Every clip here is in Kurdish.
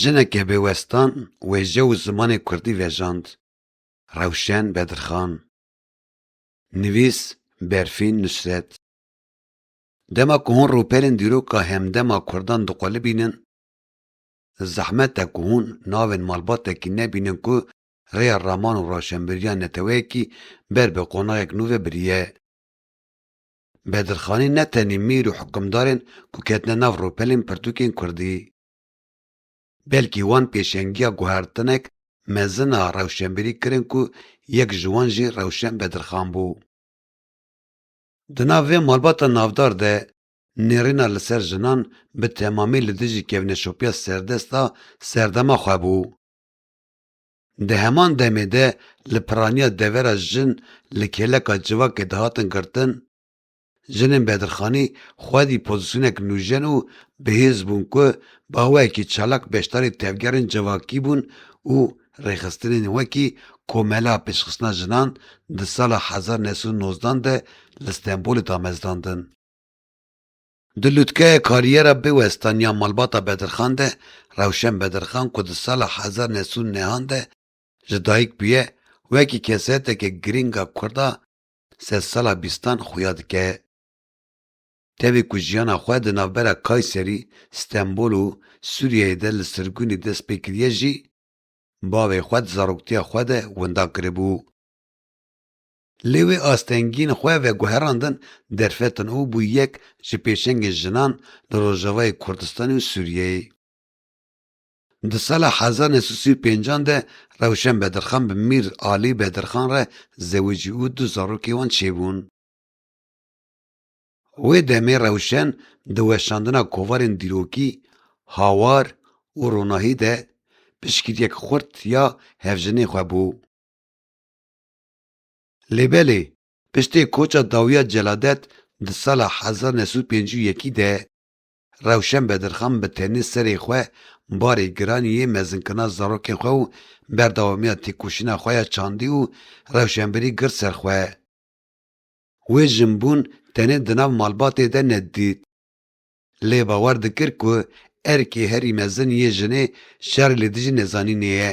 Jineke bêwestan wêje û zimanê kurdî vejand, Rewşen Bedirxan. Nivîs, Berfîn Nusret. Dema ku hûn rûpelên dîroka hemdema kurdan diqulibînin, zehmet e ku hûn navên malbatekî nebînin ku rêya raman û roşenbîriya neteweyekî ber bi qonaxek nû ve biriye. Bedirxanî ne tenê mîr û hikimdarên ku ketine nav rûpelên pirtûkên kurdî, belkî wan pêşengiya guhertinek mezin a rewşenbîrî kirin ku yek ji wan jî Rewşen Bedirxan bû. Di nav vê malbata navdar de nêrîna li ser jinan bi temamî li dijî kevneşopiya serdest a serdema xwe bû. Di heman demê de li piraniya devera jin li kêleka civakê dihatin girtin, jinên bedirxanî xwedî pozîsyonek nûjen û bihêz bûn ku bi awayekî çalak beşdarî tevgerên civakî bûn û rêxistinên wekî Komela Pêşxistina Jinan di sala hezar û neh sed û nozdan de li Stenbolê damezdandin. Di lûtkeya kariyera bêwestaniya Malbata Bedirxan de Rewşen Bedirxan ku di sala hezar neh sed û nehan de ji dayik bûye, wekî kesayeteke girîng a kurd a sedsala bîstan xuya dike. Tevî ku jiyana xwe di navbera Kayserî, Stenbol û Sûriyeyê de li sirgûnê dest pê kiriye jî, bavê xwe di zaroktiya xwe de winda kiribû. Lê wê astengiyên xwe veguherandin derfetin û bû yek ji pêşengên jinan li Rojavayê Kurdistanê û Sûriyeyê. Di sala hezar neh sed û sî û pênc an de Rewşen Bedirxan bi Mîr Alî Bedirxan re zewicî û du zarokê wan çêbûn. Wê demê Rewşen di weşandina kovarên dîrokî, hawar û ronahî de piştgiriyek xurt ya hevjinê xwe bû. Lêbelê, piştê koça dawiya Celadet di sala hezar new sed û pêncî û yekî de, Rewşen Bedirxan bi tenê serê xwe barê giranî yê mezinkirina zarokên xwe û berdewamiya têkoşîna xwe ya çandî û rewşenbirî girt ser xwe. Wê jinbûn tenê di nav malbatê de nedît. Lê bawer dikir ku erkê herî mezin yê jinê şerê li dijî nezanînê ye.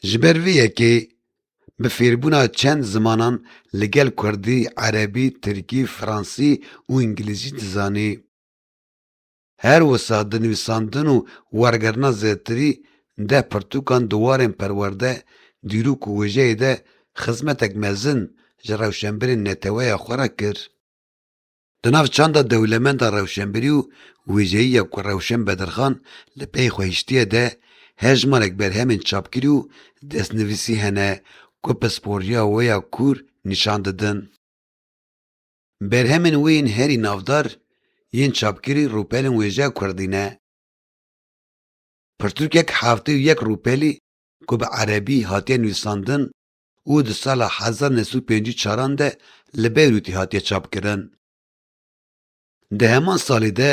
Ji ber vê yekê bi fêrbûna çend zimanan li gel kurdî, erebî, tirkî, fransî û îngilîzî dizanî. Her wisa di nivîsandin û wergerna zêdetirî deh pirtûkan di warên perwerde, dîrok û wêjeyê de xizmetek mezin ji rewşenbirên neteweya xwe re kir. Di nav çanda dewlemenda rewşenbirî û wêjeyî ya ku Rewşen Bedirxan li pey xwe hiştiye de hejmarek berhemên çapkirî û destnivîsî hene ku pisporiya wê ya kûr nîşan didin. Berhemên wê yên herî navdar yên çapkirî rûpelên wêjeya kurdî ne. Pirtûkek heftê û yek rûpelî ku bi erebî hatiye nûîsandin û di sala hezar neh sed û pêncî û çaran de li Beyrûtê hatiye çapkirin. Di heman salê de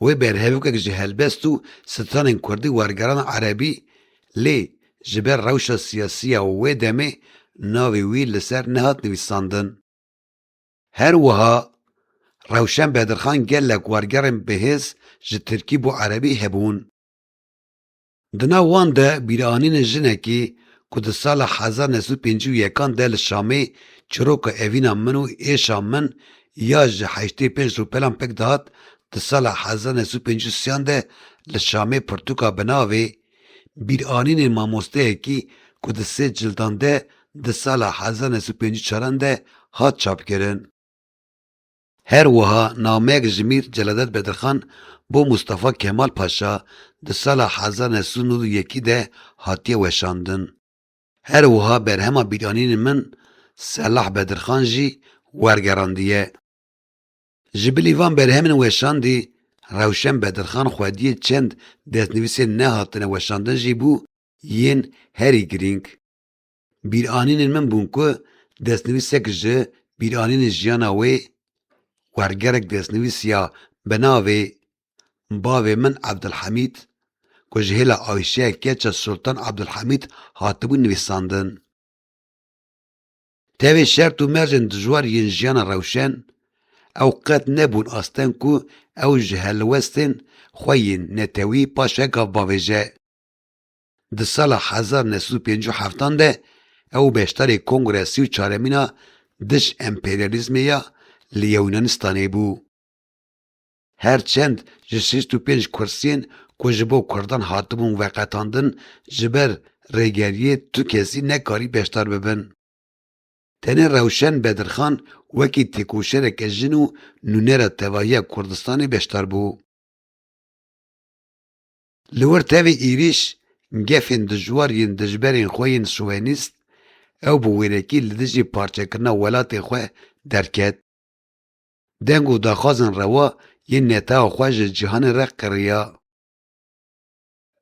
wê berhevokek ji helbest û stranên kurdî wergerand erebî lê ji ber rewşa siyasî ya wê demê navê wî li ser nehat nivîsandin. Her wiha Rewşen Bedirxan gelek wergerên bihêz ji tirkî bo erebî hebûn. Di nav wan de bîranînên jinekî ku di sala hezar neh sed û pêncî û yekan de li Şamê çiroka evîna min û êşa min ya ji heştê û pênc ropelan pik dihat, di sala hezar neh sed û pêncî û siyan de li Şamê pirtûka bi navê Bîranînên mamosteyekî ku di sê cildan de di sala hezar neh sed û pêncî û çaran de hat çapkirin. Her wiha nameyek ji mîr Celadet Bedirxan bo Mustafa Kemal Paşa di sala hezar neh sed û nod û yekî de hatiye weşandin. Her wiha berhema bîranînên min Selah Bedirxan jî wergerandiye. Ji bilî van berhemên weşandî Rewşen Bedirxan xwediyê çend destnivîsên nehatine weşandin jî bû yên herî girîng. Bîranînên min bûn ku destnivîsek ji bîranînên jiyana wê wergerek destnivîsiya bi navê Bavê min Ebdulhemîd ku ji hêla Ayşeya keça Sultan Ebdulhemîd hatibû nivîsandin. Tevê şert û mercên dijwar yên jiyana rewşen, ew qet nebûn asteng ku ew ji helwestên xwe yên netewî paşegav bavêje. Di sala hezar new sed û pêncî û heftan de ew û beşdarê Kongreya Sî û Çaremîn a Dij Emperyalîzmê ya li Yewnanistanê bû. Her çend ji şêst û pênc kursiyên ku ji bo kurdan hatibûn veqetandin ji ber rêgeriyê tu kesî nekarî beşdar bibin. Tenê Rewşen Bedirxan wekî têkoşereke jin û nûnera tevahiya Kurdistanê beşdar bû. Li wir tevî êrîş gefên dijwar yên dijberên xwe yên şovenîst, ew bi wêrekî li dijî parçekirina welatê xwe derket. Deng û daxwazên rewa yên netewa xwe ji cîhanê re qiriya.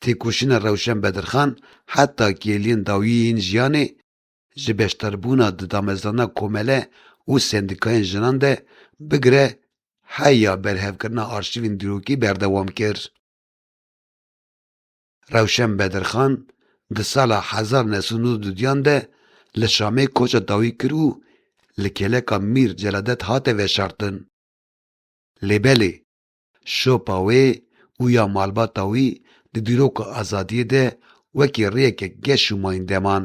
Têkoşîna Rewşen Bedirxan heta kêliyên dawî yên jiyanê ji beşdarbûna di damezrana komele û sendîkayên jinan de bigire heya berhevkirina arşîvên dîrokî berdewam kir. Rewşen Bedirxan di sala hezar û neh sed û nod û duyan de li Şamê koça dawî kir û li kêleka Mîr Celadet hate veşartin. Lê belê, şopa wê û ya malbata wî di dîroka azadiyê de wekî rêyeke geş û mayînde man.